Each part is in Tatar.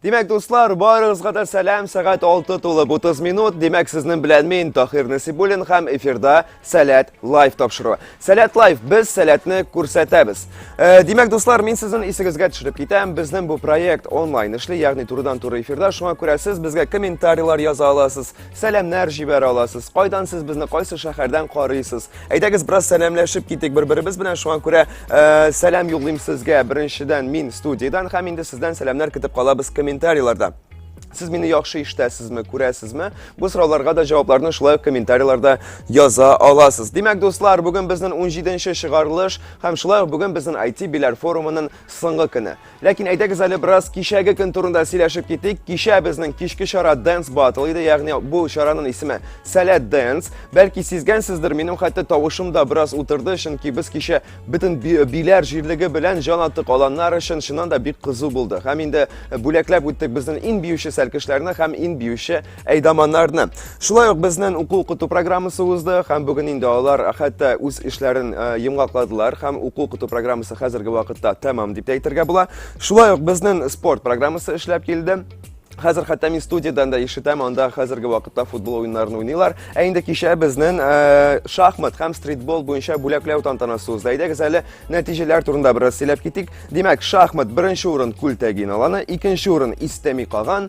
Димәк, дуслар, барыгызга да сәлам, сәгать 6 тулып 30 минут. Димәк, сезнең белән мин Тахир Насибуллин һәм эфирда Сәләт лайф тапшыруы. Сәләт лайф, без сәләтне күрсәтәбез. Э, димәк, дуслар, мин сезнең исегезгә төшереп китәм. Безнең бу проект онлайн эшли, ягъни турыдан-туры эфирда. Шуңа күрә сез безгә комментарийлар яза аласыз, Сәламнәр җибәр аласыз. Кайдан сез безне кайсы шәһәрдән карыйсыз? Әйдәгез бераз сәламләшеп китик бер-беребез белән. Шуңа күрә э, сәлам юллыйм сезгә. Беренчедән мин студиядән һәм инде сездән сәламнәр көтеп калабыз комментарийларда. Сез мине яхшы ишетәсезме, күрәсезме? Бу сорауларга да җавапларны шулай ук комментарийларда яза аласыз. Димәк, дуслар, бүген безнең 17 нче чыгарылыш һәм шулай ук бүген безнең IT биләр форумының соңгы көне. Ләкин әйдәгез әле бераз кичәге көн турында сөйләшеп китик. Кичә безнең кичке чара Dance Battle иде, ягъни бу чараның исеме Сәләт Dance. Бәлки сизгәнсездер, минем хәтта тавышым да бераз утырды, чөнки без кичә бөтен биләр җирлеге белән җан аттык аланнар өчен чыннан да бик кызу булды. Һәм инде бүләкләп үттек безнең ин биюче сәлкешләрне һәм ин биюче әйдаманнарны. Шулай ук безнен уку куту программасы узды, һәм бүген инде алар хәтта үз эшләрен э, йомгакладылар, һәм уку куту программасы хәзерге вакытта тәмам дип әйтергә була. Шулай ук безнен спорт программасы эшләп килде. Хәзер хәтта мин студиядан да ишетәм, анда хәзерге вакытта футбол уеннарын уйныйлар. Ә инде кичә безнен э, шахмат һәм стритбол буенча бүләкләү тантанасы узды. Әйдәгез әле нәтиҗәләр турында бераз сөйләп китик. Димәк, шахмат беренче урын Күлтәгин аланы, икенче урын Истәми каган,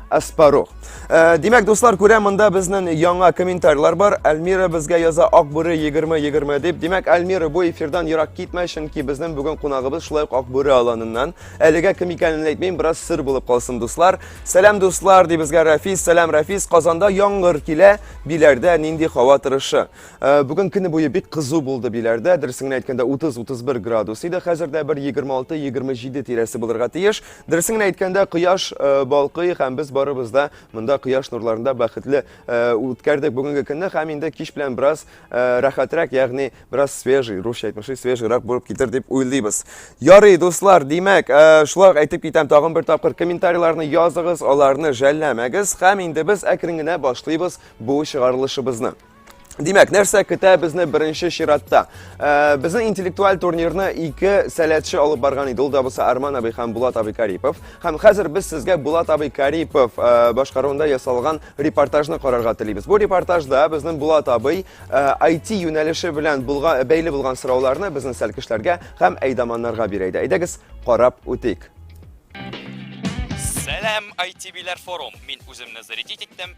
Аспарух. Э, димәк, дуслар, күрә монда безнең яңа комментарийлар бар. Әлмира безгә яза Акбүре 20-20 дип. Димәк, Әлмира бу эфирдан ерак китмә, чөнки безнең бүген кунагыбыз шулай ук Акбүре аланыннан. Әлегә кем икәнен әйтмим, бераз сыр булып калсын, дуслар. Сәлам, дуслар, ди безгә Рафис. Сәлам, Рафис. Казанда яңгыр килә. Биләрдә нинди һава торышы? Э, бүген көне буе бик кызу булды Биләрдә. Дөресен әйткәндә 30-31 градус иде. Хәзер дә бер 26-27 тирәсе булырга тиеш. Дөресен генә әйткәндә, кояш э, балкый һәм без барыбыз да монда кояш нурларында бәхетле э, үткәрдек бүгенге көнне һәм инде кич белән бераз э, рәхәтрәк, ягъни бераз свежий, русча әйтмешли, свежийрак булып китер дип уйлыйбыз. Ярый, дуслар, димәк, шулай әйтеп китәм, тагын бер тапкыр комментарийларны языгыз, аларны жәлләмәгез һәм инде без әкрен генә башлыйбыз бу чыгарылышыбызны. Димәк, нәрсә көтә безне беренче чиратта? Э, безнең интеллектуаль турнирны ике сәләтче алып барган иде. Ул да булса Арман абый һәм Булат абый Карипов. Һәм хәзер без сезгә Булат абый Карипов э, башкаруында ясалган репортажны карарга телибез. Бу репортажда безнең Булат абый IT э, юнәлеше белән булган бәйле булган сорауларны безнең сәлкешләргә һәм әйдаманнарга бирә иде. Әйдәгез, карап үтик. Сәлам, IT-биләр форум. Мин үземне зарядить иттем.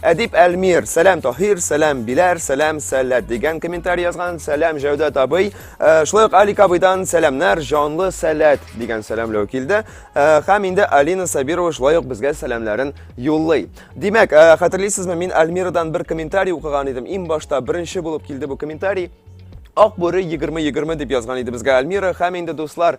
Әдип Әлмир, сәләм Таһир, сәләм Биләр, сәләм Сәләт дигән комментарий язган. Сәләм Җәүдәт абый. Э, шулай ук Алик абыйдан сәламнәр, җанлы Сәләт дигән сәламләү килде. Э, һәм инде Алина Сабирова шулай ук безгә сәламнәрен юллый. Димәк, э, хәтерлисезме, мин Әлмирадан бер комментарий укыган идем. Иң башта беренче булып килде бу комментарий. Ак бүре 20-20 дип язган иде безгә Альмира һәм инде дуслар,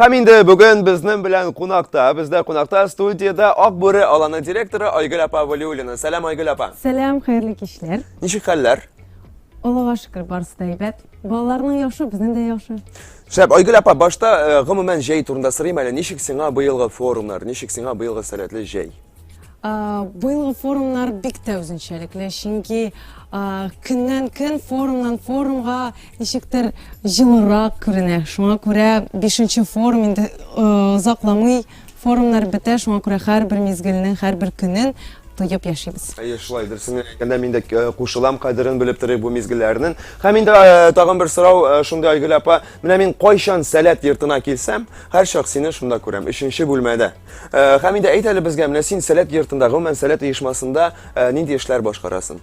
Һәм инде бүген безнең белән кунакта, бездә кунакта студиядә Ак бүре аланы директоры Айгөл апа Валиуллина. Сәлам, Айгөл апа. Сәлам, хәерле кичләр. Ничек хәлләр? Аллага шөкер, барысы да әйбәт. Балаларның яхшы, безнең дә яхшы. Шәп, Айгөл апа, башта э, гомумән җәй турында сорыйм әле. Ничек сиңа быелгы форумнар, ничек сиңа быелгы сәләтле җәй? Быелгы форумнар бик тә үзенчәлекле, чөнки көннән-көн, форумнан-форумга ничектер җылырак күренә. Шуңа күрә бишенче форум инде озакламый форумнар бетә, шуңа күрә һәрбер мизгелнең, һәрбер көнен тоеп яшибез. Әйе, шулайдыр. Сиңа әйткәндә мин дә кушылам, кадерен белеп торыйк бу мизгелләрнең. Һәм инде тагын бер сорау шундый, Айгөл апа, менә мин кайчан Сәләт йортына килсәм, һәрчак сине шунда күрәм, өченче бүлмәдә. Э, һәм инде әйт әле безгә, менә син Сәләт йортында, гомумән Сәләт оешмасында э, нинди эшләр башкарасын?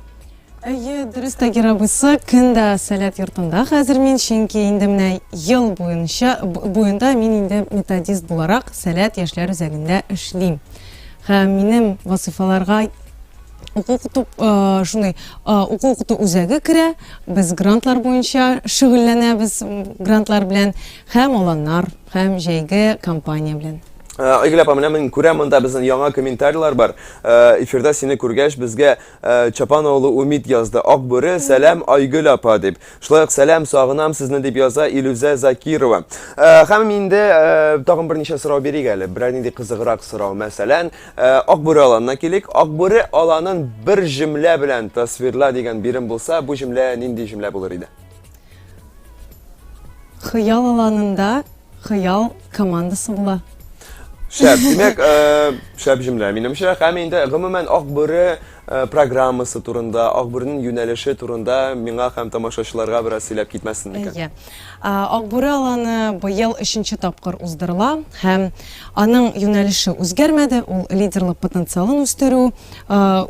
Әйе, дөрес Тагир абыйсы, көн дә Сәләт йортында хәзер мин, чөнки инде менә ел буенча буенда мин инде методист буларак Сәләт яшьләр үзәгендә эшлим. Һәм минем вазифаларга уку укыту э, шундый э, уку укыту үзәге керә. Без грантлар буенча шөгыльләнәбез, грантлар белән Һәм аланнар, һәм җәйге кампания белән. Э, Айгөл апа, менә мин күрәм, монда безнең яңа комментарийлар бар. Э, эфирда сине күргәч, безгә э, Чапан олы Умид язды. Ак бүре, сәлам Айгөл апа дип. Шулай ук сәлам, сагынам сезне дип яза Илүзә Закирова. Һәм инде тагын берничә сорау бирик әле. Берәр нинди кызыграк сорау, мәсәлән, Ак бүре аланына килик. Ак бүре аланын бер җөмлә белән тасвирла дигән бирем булса, бу җөмлә нинди җөмлә булыр иде? Хыял аланында хыял командасы була. Шәп, димәк, э, шәп җөмлә, минемчә. Һәм инде гомумән Акбүре э, программасы турында, Акбүренең юнәлеше турында миңа һәм тамашачыларга бераз сөйләп китмәсен микән? Әйе. Акбүре аланы быел өченче тапкыр уздырыла һәм аның юнәлеше үзгәрмәде, ул лидерлык потенциалын үстерү,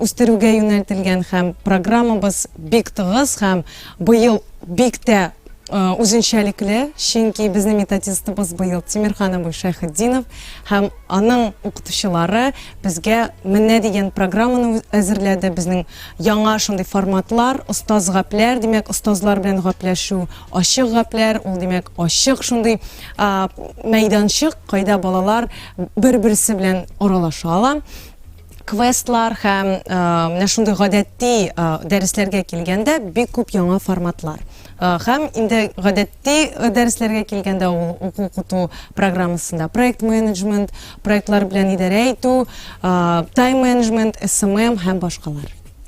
үстерүгә юнәлтелгән һәм программабыз бик тыгыз һәм Быел бик тә үзенчәлекле, чөнки безнең методистыбыз быел Тимирхан абый Шәйхетдинов һәм аның укытучылары безгә менә дигән программаны әзерләде. Безнең яңа шундый форматлар, остаз гапләр, димәк, остазлар белән гапләшү, ачык гапләр, ул димәк, ачык шундый мәйданчык, кайда балалар бер-берсе белән аралаша ала. Квестлар һәм менә шундый гадәтти дәресләргә килгәндә бик күп яңа форматлар. Һәм инде гадәтти дәресләргә килгәндә ул уку укыту программасында проект менеджмент, проектлар белән идарә итү, тайм менеджмент, СММ һәм башкалар.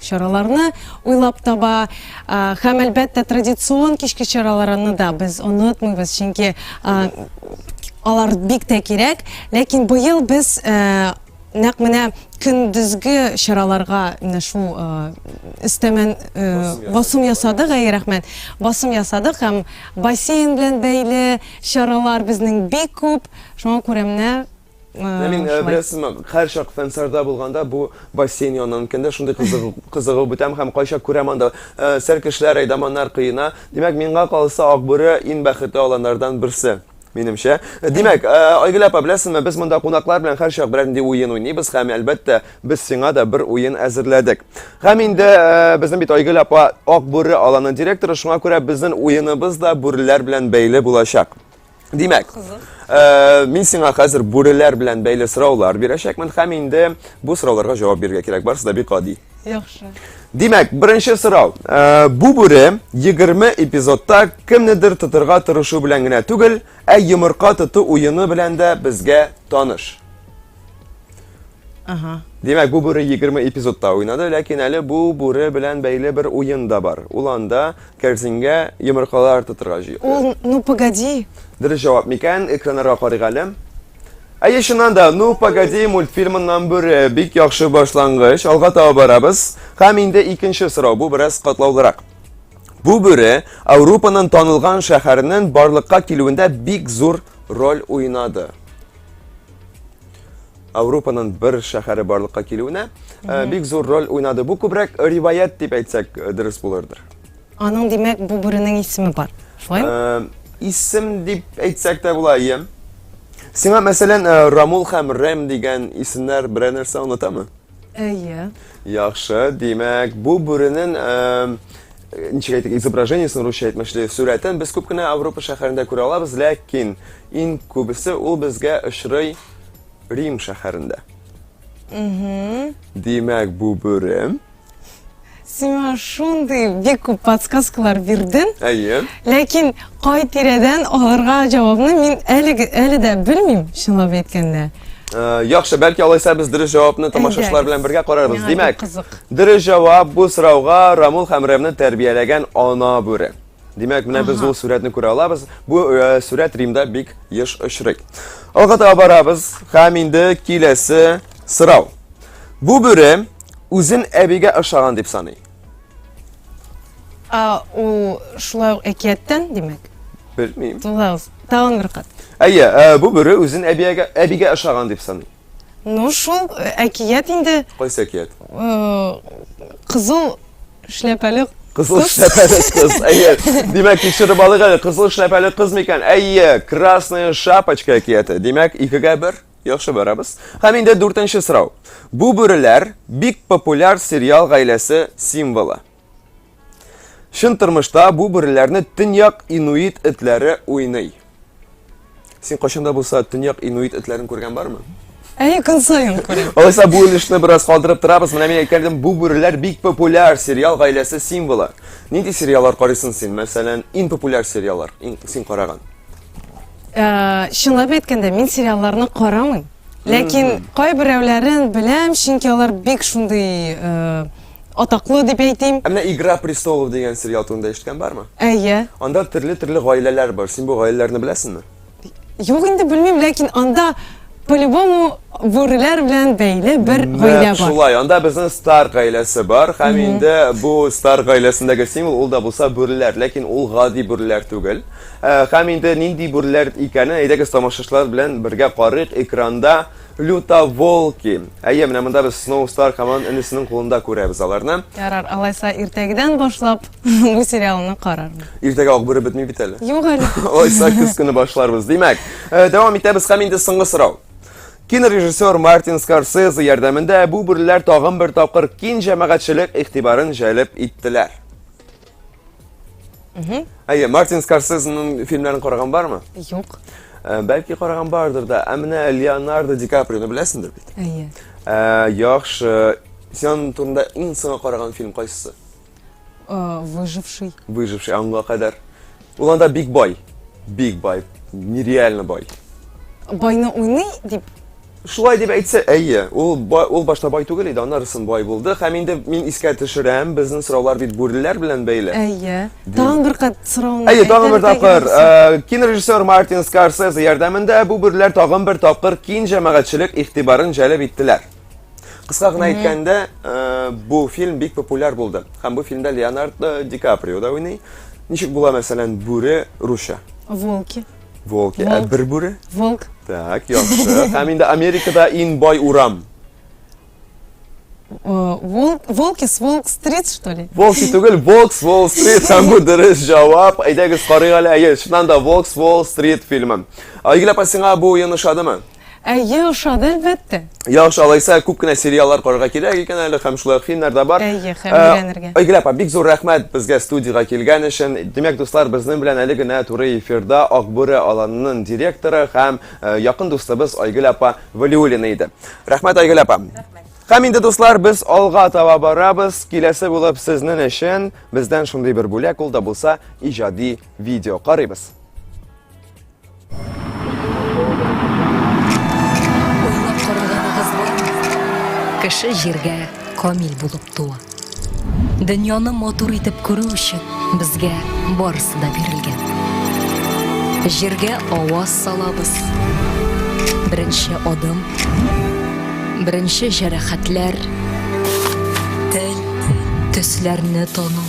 чараларны уйлап таба һәм, әлбәттә, традицион кичке чараларны да без онытмыйбыз, чөнки алар бик тә кирәк. Ләкин быел без нәкъ менә көндезге чараларга менә шул өстәмә басым ясадык, әйе, рәхмәт, басым ясадык һәм бассейн белән бәйле чаралар безнең бик күп, шуңа күрә менә Ә мин беләсез ме, һәр чак фәнсарда булганда бу бассейн янынан кендә шундый кызыгу, кызыгу бетәм һәм кайчак күрәм анда э, сәр кешеләр, әйдаманнар кыена. Димәк, миңа калса Акбүре иң бәхетле аланнардан берсе. Минемчә. Э, димәк, э, Айгөл апа, беләсезме, без монда кунаклар белән һәр чак берәр нинди уен уйныйбыз һәм әлбәттә, без сиңа да бер уен әзерләдек. Һәм инде э, безнең бит Айгөл апа Акбүре аланы директоры, шуңа күрә безнең уеныбыз да бүреләр белән бәйле булачак. Димәк, э, мин сиңа хәзер бүреләр белән бәйле сораулар бирәчәкмен һәм инде бу сорауларга җавап бирергә кирәк. Барысы да бик гади. Яхшы. Димәк, беренче сорау. Э, бу бүре 20 эпизодта кемнедер тотырга тырышу белән генә түгел, ә йомырка тоту уены белән дә безгә таныш. Ага. Димәк, бу бүре 20 эпизодта уйнады, ләкин әле бу бүре белән бәйле бер уен да бар. Ул анда кәрзингә йомыркалар тотырга җыйды. Ул, ну погоди. Дөрес җавап микән? Экраннарга карыйк әле. Әйе, чыннан да, ну погоди мультфильмыннан бүре бик яхшы башлангыч. Алга таба барабыз. Һәм инде икенче сорау, бу бераз катлаулырак. Бу бүре Ауропаның танылган шәһәренең барлыкка килүендә бик зур роль уйнады. Ауропаның бер шәһәре барлыкка килүенә э, бик зур роль уйнады. Бу күбрәк риваять дип әйтсәк э, дөрес булырдыр. Аның димәк бу бүренең исеме бар. Шулай? Э, исем дип әйтсәк тә була, ия. Сиңа мәсәлән Рамул һәм Рэм дигән исемнәр берәр нәрсә онытамы? Әйе. Яхшы, димәк, бу бүренен ничек әйтик, изображениесен русча әйтмешли, сурәтен без күп кенә Авропа шәһәрендә күрә алабыз, ләкин иң күбесе ул безгә очрый Рим шәһәрендә. Димәк, бу бүрем Сиңа шундый бик күп подсказкалар бирдем. Әйе. Ләкин кай тирәдән алырга җавабны мин әле әле дә белмим, чынлап әйткәндә. Э, яхшы, бәлки алайса без дөрес җавапны тамашачылар белән бергә карарбыз. Димәк, дөрес җавап бу сорауга Рамул һәм Рэмны тәрбияләгән ана бүре. Димәк, менә без ул сурәтне күрә алабыз. Бу э, сурәт Римда бик еш очрый. Алга таба барабыз һәм инде киләсе сорау. Бу бүре үзен әбигә ошаган дип саный. А ул шулай ук әкияттән, димәк. Белмим. Тулаз, тагын бер кат. Әйе, э, бу бүре үзен әбигә әбигә ошаган дип саный. Ну шул э, әкият инде. Кайсы әкият? Э, кызыл шляпәле Кызыл шляпәле кыз. Әйе. Димәк, тикшереп алыйк әле. Кызыл шляпәле кыз микән? Әйе, красная шапочка әкияте. Димәк, икегә бер. Яхшы барабыз. Һәм инде дүртенче сорау. Бу бүреләр бик популяр сериал гаиләсе символы. Чын тормышта бу бүреләрне төньяк инуит этләре уйный. Син кайчанда булса төньяк инуит этләрен күргән бармы? Әйе, көн саен күрәм. Алайса бу өлешне бераз калдырып торабыз. Менә мин әйткәндем, бу бүреләр бик популяр сериал гаиләсе символы. Нинди сериаллар карыйсың син? Мәсәлән, иң популяр сериаллар, иң син караган. Э, чынлап әйткәндә, мин сериалларны карамыйм. Ләкин кайберәүләрен беләм, чөнки алар бик шундый э, атаклы дип әйтим. Ә менә Игра престолов дигән сериал турында ишеткән бармы? Әйе. Анда төрле-төрле гаиләләр бар. Син бу гаиләләрне беләсеңме? Юк инде белмим, ләкин анда по-любому бүреләр белән бәйле бер гаилә бар. Шулай, анда безнең стар гаиләсе бар, һәм инде бу стар гаиләсендәге символ ул да булса бүреләр, ләкин ул гади бүреләр түгел. Һәм инде нинди бүреләр икәнен әйдәгез тамашачылар белән бергә карыйк экранда. Люта Волки. Әйе, менә монда без Snow Star команд энесенең кулында күрәбез аларны. Ярар, алайса иртәгедән башлап бу сериалны карармын. Иртәгә акбүре бетми бит әле. Юк әле. Алайса көз көне башларбыз. Димәк, э, дәвам итәбез һәм инде соңгы сорау. Кинорежиссер Мартин Скорсезе ярдәмендә бу бүреләр тагын бер тапкыр кин җәмәгатьчелек игътибарын җәлеп иттеләр. Әйе, Мартин Скорсезенең фильмларын караган бармы? Юк. Э, бәлки караган бардыр да. Ә менә Леонардо Ди Каприоны беләсеңдер бит? Әйе. Э, яхшы. Сен турында иң соңга караган фильм кайсысы? Э, Выживший. Выживший аңга кадәр. Ул анда бик бай. Бик бай. Нереально бай. Байны уйный дип Шулай дип әйтсә, әйе, ул бай, ул башта бай түгел иде, аннарысын бай булды. Һәм инде мин искә төшерәм, безнең сораулар бит бүреләр белән бәйле. Әйе. Тагын бер кат сорауны. Әйе, тагын бер тапкыр. Э, кинорежиссер Мартин Скорсезе ярдәмендә бу бүреләр тагын бер тапкыр кин җәмәгатьчелек игътибарын җәлеп иттеләр. Кыска гына әйткәндә, э, бу фильм бик популяр булды. Һәм бу фильмда Леонардо Ди Каприо да уйный. Ничек була, мәсәлән, бүре русча? Волки. Волки. Ә бер бүре? Волк. Так, яхшы. Һәм инде Америкада иң бай урам. Э, волк, волки с Волк Стрит, что ли? Волки түгел, Волк с Волк Стрит. Һәм бу дөрес җавап. Әйдәгез карыйк әле. Әйе, чыннан да Волк с Волк Стрит фильмы. Игеләп сиңа бу уен ошадымы? Әйе, ошады, әлбәттә. Яхшы, алайса күп кенә сериаллар карарга кирәк икән әле һәм шулай фильмнар да бар. Әйе, һәм э, өйрәнергә. Айгөл апа, бик зур рәхмәт безгә студиягә килгән өчен. Димәк, дуслар, безнең белән әле генә туры эфирда Акбүре аланының директоры һәм э, якын дустыбыз Айгөл апа Валиуллина иде. Рәхмәт, Айгөл апа. Һәм инде, дуслар, без алга таба барабыз. Киләсе булып сезнең өчен бездән шундый бер бүләк ул да булса иҗади видео карыйбыз. Кеше җиргә камил булып туа. Дөньяны матур итеп күрү өчен безгә барысы да бирелгән. Җиргә аваз салабыз. Беренче адым, беренче җәрәхәтләр, тел, төсләрне тану.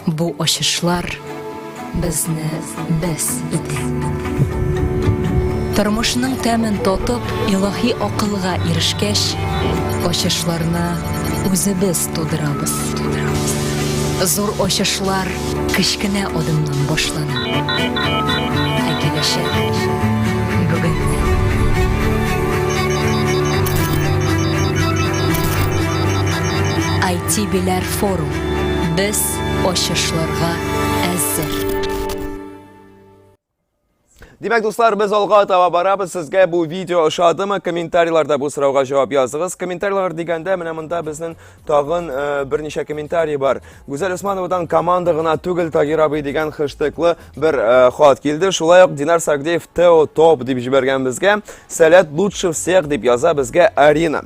Бу ачышлар Безне без итә. Тормышның тәмен татып, илаһи акылга ирешкәч, ачышларны үзебез тудырабыз. Зур ачышлар кечкенә адымнан башлана. Ә киләчәк бүгеннән. IT Biler Forum. Без ачышларга әзер. Димәк, дуслар, без алга таба барабыз. Сезгә бу видео ошадымы? Комментарийларда бу сорауга җавап языгыз. Комментарийлар дигәндә, менә монда безнең тагын э, берничә комментарий бар. Гүзәл Усмановадан команда гына түгел Тагир абый дигән хештеглы бер э, хат килде. Шулай ук Динар Сагдеев Тео топ дип җибәргән безгә. Сәләт лучше всех дип яза безгә Арина.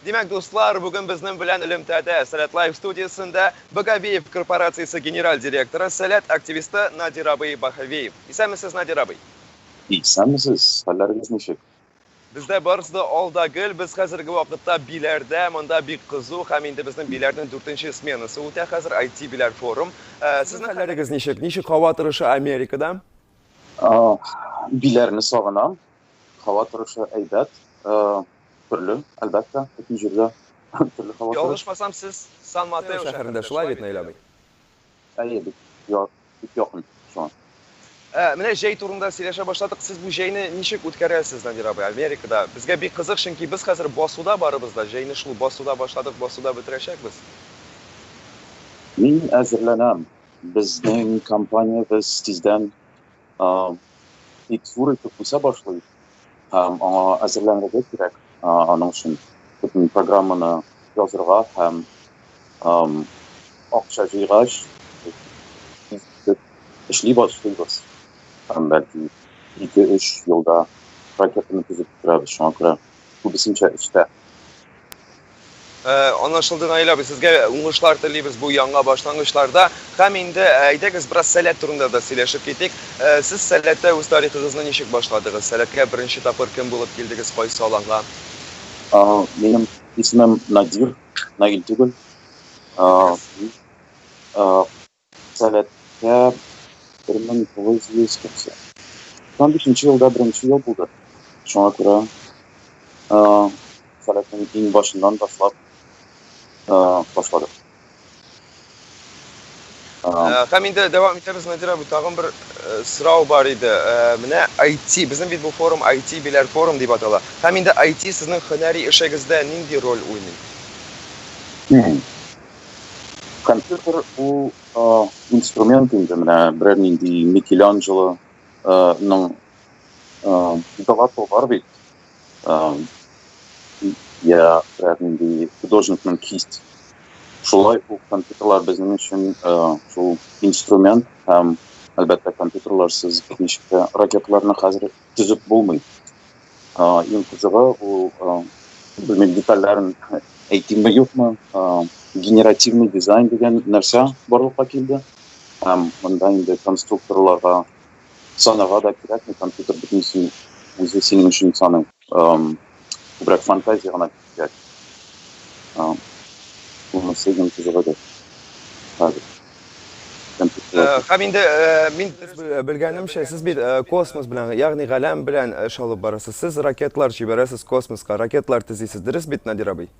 Димәк, дуслар, бүген безнең белән элемтәдә Сәләт Лайф студиясендә Багавиев корпорациясе генераль директоры, Сәләт активисты Надир абый Баһавиев. Исәнмесез, Надир абый! Исәнмесез, хәлләрегез ничек? Бездә барысы да алда гел, без хәзерге вакытта Биләрдә, монда бик кызу һәм инде безнең Биләрнең дүртенче сменасы үтә хәзер, IT Биләр форум. Э, Сезнең хәлләрегез ничек? Ничек һава торышы Америкада? А, Биләрне сагынам, Һава торышы әйбәт, төрле, әлбәттә, бөтен җирдә төрле һава торышы. Ялгышмасам, сез Сан-Матео шәһәрендә, шулай бит, Наил абый? Әйе, бик якын шуңа. Менә җәй турында сөйләшә башладык. Сез бу җәйне ничек үткәрәсез, Надир абый, Америкада? Безгә бик кызык, чөнки без хәзер басуда барыбыз да, җәйне шул басуда башладык, басуда бетерәчәкбез. Мин әзерләнәм. Безнең компаниябез тиздән Бик зур итеп үсә башлый һәм аңа әзерләнергә кирәк. Аның өчен бөтен программаны язырга һәм акча җыйгач, эшли башлыйбыз. Һәм бәлки ике-өч елда ракетаны төзеп бетерәбез, шуңа күрә. күбесенчә өстә. Э, анлашылды наилә абый сезгә уңышлар телибез бу яңа башлангычларда һәм инде э, әйдәгез бераз сәләт турында да сөйләшеп китик э, сез сәләттә үз тарихыгызны ничек башладыгыз сәләткә беренче тапкыр кем булып килдегез кайсы аланга минем исемем надир наил түгел Сәләтле 1995 нче елда беренче ел булды. Шуңа күрә Сәләтнең иң башыннан башлап башладык. Һәм инде дәвам итәбез, Надир абый, тагын бер сорау бар иде. Менә IT, безнең бит бу форум IT Биләр форум дип атала. Һәм инде IT сезнең һөнәри эшегездә нинди роль уйный? Компьютер ул инструмент инде, менә берәр нинди Микеланджелоның Галату бар бит. Я берәр нинди художникның кисть. Шулай ук компьютерлар безнең өчен шул инструмент һәм әлбәттә компьютерларсыз ничек тә ракеталарны хәзер төзеп булмый. Иң кызыгы ул, белмим, детальләрен әйтимме, юкмы, генеративный дизайн дигән нәрсә барлыкка килде. Һәм монда инде конструкторларга санарга да кирәкми, компьютер бөтенесен үзе синең өчен саный. Күбрәк фантазия гына кирәк. Монысы иң кызыгы да. Хәзер. Һәм инде мин белгәнемчә, сез бит космос белән, ягъни галәм белән эш алып барасыз. Сез ракетлар җибәрәсез космоска, ракетлар төзисез. Дөрес бит, Надир абый?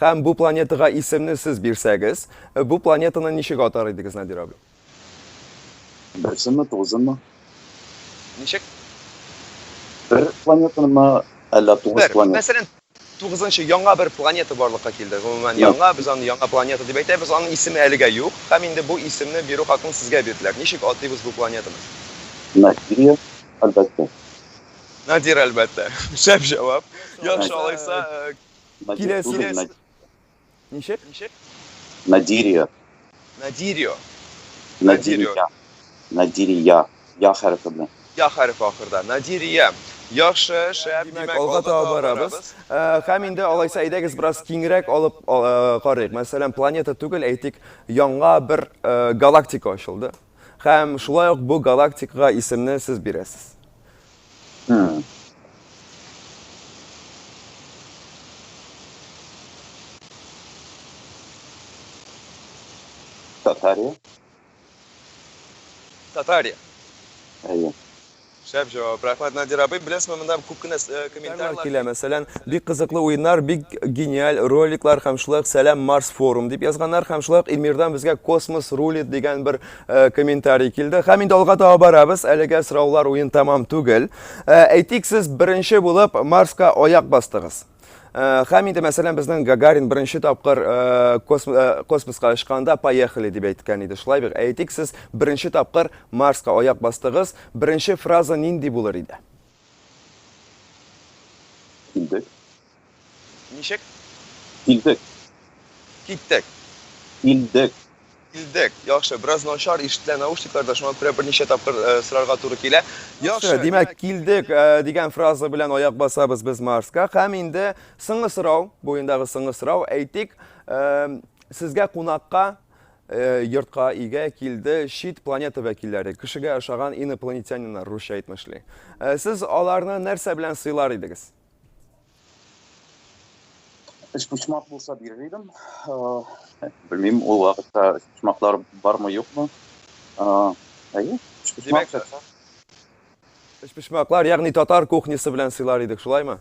Һәм бу планетага исемне сез бирсәгез, бу планетаны ничек атар идегез, Надир абый? Берсеме, тугызымы? Ничек? Бер планетамы, әллә тугыз Бер, планета? мәсәлән, тугызынчы яңа бер планета барлыкка килде. Гомумән, яңа, без аны яңа планета дип әйтәбез, аның исеме әлегә юк. Һәм инде бу исемне бирү хакын сезгә бирделәр. Ничек атыйбыз бу планетаны? Надирия, әлбәттә. Надир, әлбәттә. Шәп җавап. Яхшы, алайса, Киләсе- Надир түгел, Над- Ничек? Надирия. Надирио. Надирия. Надирия. Надирия. Я хәрефе белән. Я хәрефе ахырда. Надирия. Яхшы, шәп. Димәк, алга таба барабыз. Э, Һәм инде алайса әйдәгез бераз киңрәк алып э, карыйк. Мәсәлән, планета түгел, әйтик, яңа бер э, галактика ачылды. Һәм шулай ук бу галактикага исемне сез бирәсез. Хм. Татария? Татария. Әйе. Шәп җавап, рәхмәт Надир абый, беләсезме, монда күп кенә комментарилар килә, мәсәлән, бик кызыклы уеннар, бик гениаль роликлар һәм шулай ук сәлам Марс форум дип язганнар һәм шулай ук Эльмирдан безгә космос рулит дигән бер комментарий килде. Һәм инде алга таба барабыз, әлегә сораулар уен тәмам түгел. Әйтик, сез беренче булып Марска аяк бастыгыз. Э, һәм инде мәсәлән безнең гагарин беренче тапкыр э, э, космоска очканда поехали дип әйткән иде шулай бик әйтик сез беренче тапкыр марска аяк бастыгыз беренче фраза нинди булыр иде килдек ничек килдек киттек килдек Килдек. Яхшы, бераз начар ишетелә наушникларда, шуңа күрә берничә тапкыр э, сорарга туры килә. Яхшы, димәк, килдек э, дигән фраза белән аяк басабыз без Марска. Һәм инде соңгы сорау, буендагы соңгы сорау, әйтик, э, сезгә кунакка э, йортка иге килде чит планета вәкилләре, кешегә ошаган инопланетяниннар, русча әйтмешли. Э, сез аларны нәрсә белән сыйлар идегез? Өчпочмак булса бирер идем. Белмим, ул вакытта өчпочмаклар бармы, юкмы? Әйе, өчпочмак чакса. Өчпочмаклар, ягъни татар кухнясы белән сыйлар идек, шулаймы?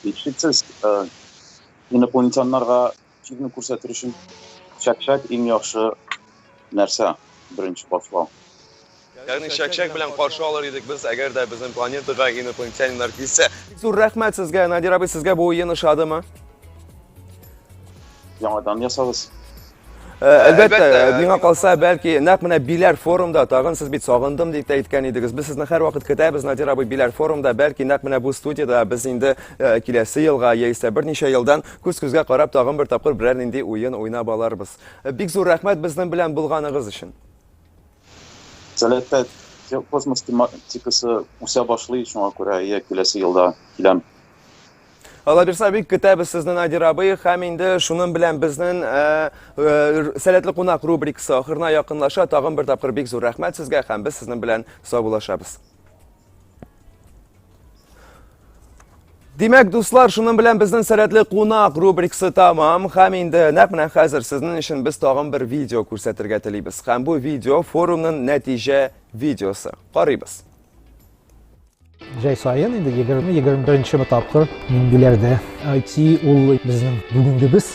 Һичшиксез, инопланетяннарга Чикне күрсәтер өчен чәкчәк иң яхшы нәрсә беренче башлау. Ягъни чәкчәк белән каршы алыр идек без, әгәр дә безнең планетага инопланетяниннар килсә. Бик зур рәхмәт сезгә, Надир абый, сезгә бу уен ошадымы? Яңадан ясагыз. Э, әлбәттә, миңа калса, бәлки, нәкъ менә Биләр форумда, тагын сез бит сагындым дип тә әйткән идегез. Без сезне һәрвакыт көтәбез, Надир абый, Биләр форумда, бәлки, нәкъ менә бу студияда без инде э, киләсе елга яисә берничә елдан Күз-күзгә карап тагын бер тапкыр берәр нинди уен уйнап аларбыз. Бик зур рәхмәт безнең белән булганыгыз өчен. Сәләпәт, космос тематикасы үсә башлый, шуңа күрә я киләсе елда киләм. Алабирса бик көтәбез сезне Надир абый һәм инде шуның белән безнең э, э, сәләтле кунак рубрикасы ахырына якынлаша. Тагын бер тапкыр бик зур рәхмәт сезгә һәм без сезнең белән саубуллашабыз. Димәк, дуслар, шуның белән безнең сәләтле кунак рубрикасы тамам. Хәм инде нәкъ менә хәзер сезнең өчен без тагын бер видео күрсәтергә телибез. Хәм бу видео форумның нәтиҗә видеосы. Карыйбыз. Җәй саен инде 20-21 тапкыр миндиләрдә IT ул безнең бүгенгебез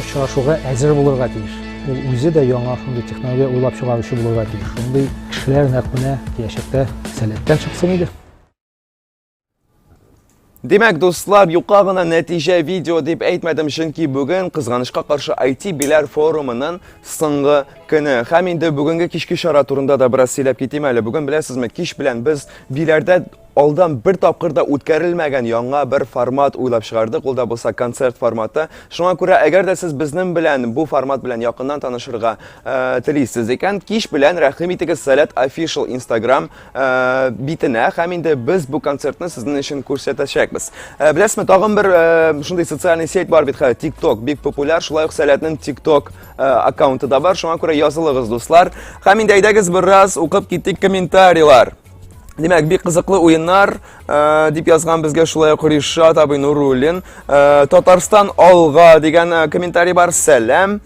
Очрашуга әзер булырга тиеш. Ул үзе дә яңа шундый технология уйлап чыгаручы булырга тиеш. Шундый кешеләр нәкъ менә киләчәктә сәләттән чыксын иде. Димәк, дуслар, юка гына нәтиҗә видео дип әйтмәдем, чөнки бүген кызганычка каршы IT биләр форумының соңгы көне. Һәм инде бүгенге кичке чара турында да бераз сөйләп китим әле. Бүген беләсезме, кич белән без биләрдә Алдан бер тапкыр да үткәрелмәгән яңа бер формат уйлап чыгардык, ул да булса концерт форматы. Шуңа күрә, әгәр дә сез безнең белән бу формат белән якыннан танышырга э, телисез икән, кич белән рәхим итегез Сәләт Official Instagram э, битенә, һәм инде без бу концертны сезнең өчен күрсәтәчәкбез. Э, Беләсезме, тагын бер э, шундый социальный сеть бар бит хәзер, TikTok, бик популяр, шулай ук Сәләтнең TikTok э, аккаунты да бар, шуңа күрә язылыгыз, дуслар. Һәм инде әйдәгез бераз укып китик комментарийлар. Димәк, бик кызыклы уеннар, э, дип язган безгә шулай ук Ришат абый Нуруллин. Э, Татарстан алга дигән э, комментарий бар. Сәлам.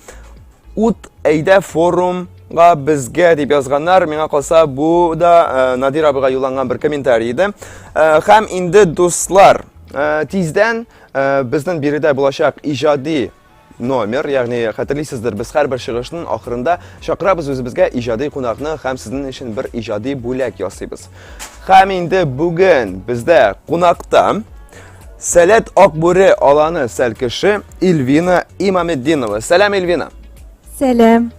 Ут әйдә форумга безгә дип язганнар. Миңа калса, бу да Надир абыйга юлланган бер комментарий иде. Хәм инде дуслар, тиздән безнең биредә булачак иҗади номер, ягъни хәтерлисездер, без һәрбер чыгышның ахырында чакырабыз үзебезгә иҗади кунакны һәм сезнең өчен бер иҗади бүләк ясыйбыз. Һәм инде бүген бездә кунакта Сәләт Акбүре аланы сәлкеше Ильвина Имаметдинова. Сәлам, Ильвина. Сәлам.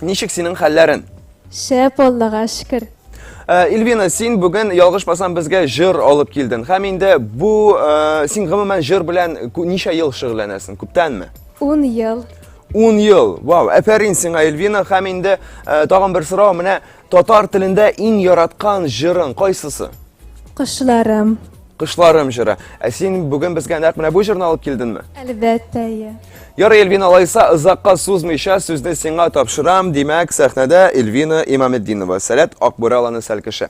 Ничек синең хәлләрен? Шәп, Аллага шөкер. Э, Ильвина, син бүген ялгышмасам безгә җыр алып килдең. Һәм инде бу э, син гомумән җыр белән ничә ел шөгыльләнәсең? Күптәнме? 10 ел. 10 ел. Вау, әфәрин сиңа Ильвина. Һәм инде э, тагын бер сорау, менә татар телендә иң яраткан җырың кайсысы? Кошларым. Кышларым җыры. Ә син бүген безгә нәкъ менә бу җырны алып килдеңме? Әлбәттә, иә. Ярый, Эльвина, алайса озакка сузмыйча сүзне сиңа тапшырам. Димәк, сәхнәдә Эльвина Имаметдинова, Сәләт Акбүре аланы сәл кеше.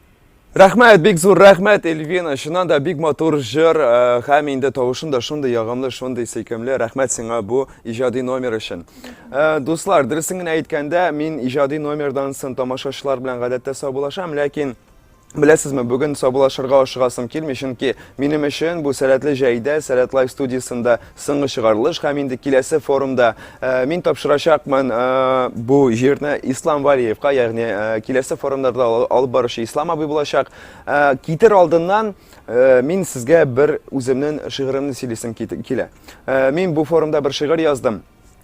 Рәхмәт, бик зур рәхмәт, Эльвина. Чыннан да бик матур җыр, э, һәм инде тавышын да шундый ягымлы, шундый сөйкемле. Рәхмәт сиңа бу иҗади номер өчен. Э, дуслар, дөресен генә әйткәндә, мин иҗади номердан сон тамашачылар белән гадәттә саубулашам, ләкин Беләсезме, бүген сабылашырга ашыгасым килми, чөнки минем өчен бу сәләтле җәйдә, сәләт лайф студиясендә Соңгы чыгарылыш һәм инде киләсе форумда э, мин тапшырачакмын э, бу җирне Ислам Валиевка, ягъни э, киләсе форумнарда алып баручы Ислам абый булачак. Китер алдыннан мин сезгә бер үземнең шигыремне сөйлисем килә. Мин бу форумда бер шигырь яздым.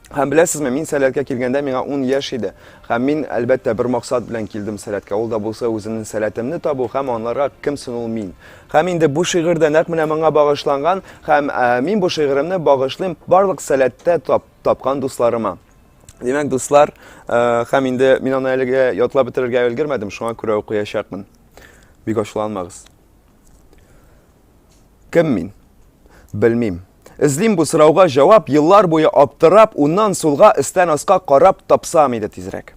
Һәм беләсезме, мин сәләткә килгәндә миңа 10 яшь иде. Һәм мин, әлбәттә, бер максат белән килдем сәләткә. Ул да булса үземнең сәләтемне табу һәм анларга кем сон ул мин. Һәм инде бу шигырь дә нәкъ менә моңа багышланган, һәм ә, мин бу шигыремне багышлыйм барлык сәләттә тап, тапкан дусларыма. Димәк, дуслар, ә, һәм инде мин аны әлегә ятлап бетерергә өлгермәдем, шуңа күрә укыячакмын. Бик ачуланмагыз. Кем мин? Белмим. Эзлим бу сорауга җавап, еллар буе аптырап, уннан сулга, өстән аска карап тапсам иде тизрәк.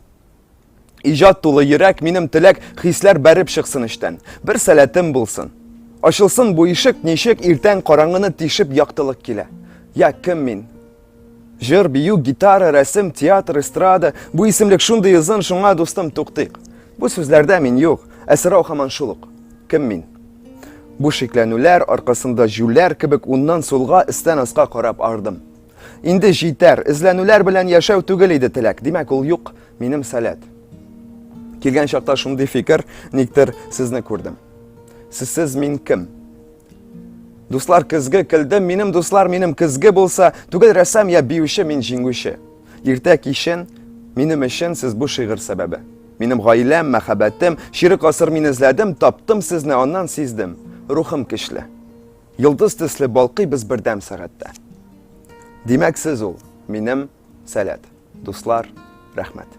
Иҗат тулы йөрәк, минем теләк, хисләр бәреп чыксын эчтән. Бер сәләтем булсын. Ачылсын бу ишек, ничек иртән караңгыны тишеп яктылык килә. Я кем мин? Җыр, бию, гитара, рәсем, театр, эстрада. Бу исемлек шундый озын, шуңа дустым туктыйк. Бу сүзләрдә мин юк, ә сорау хаман шул ук. Кем мин? Бу шикләнүләр аркасында җүләр кебек уннан сулга, истән аска карап ардым. Инде җитәр, эзләнүләр белән яшәү түгел иде теләк, димәк ул юк, минем сәләт. Килгән чакта шундый фикер, никтер сезне күрдем. Сезсез мин кем? Дуслар көзге килде, минем дуслар минем көзге булса, түгел рәсәм я биюче мин җиңүче. Иртә кичен минем өчен сез бу шигырь сәбәбе. Минем гаиләм, мәхәббәтем, чирек асыр мин эзләдем, таптым сезне, аннан сиздем. Рухым кишле. Йолдыз төсле балкый без бердәм сәгатьтә. Димәк, сез ул, минем сәләт. Дуслар, рәхмәт.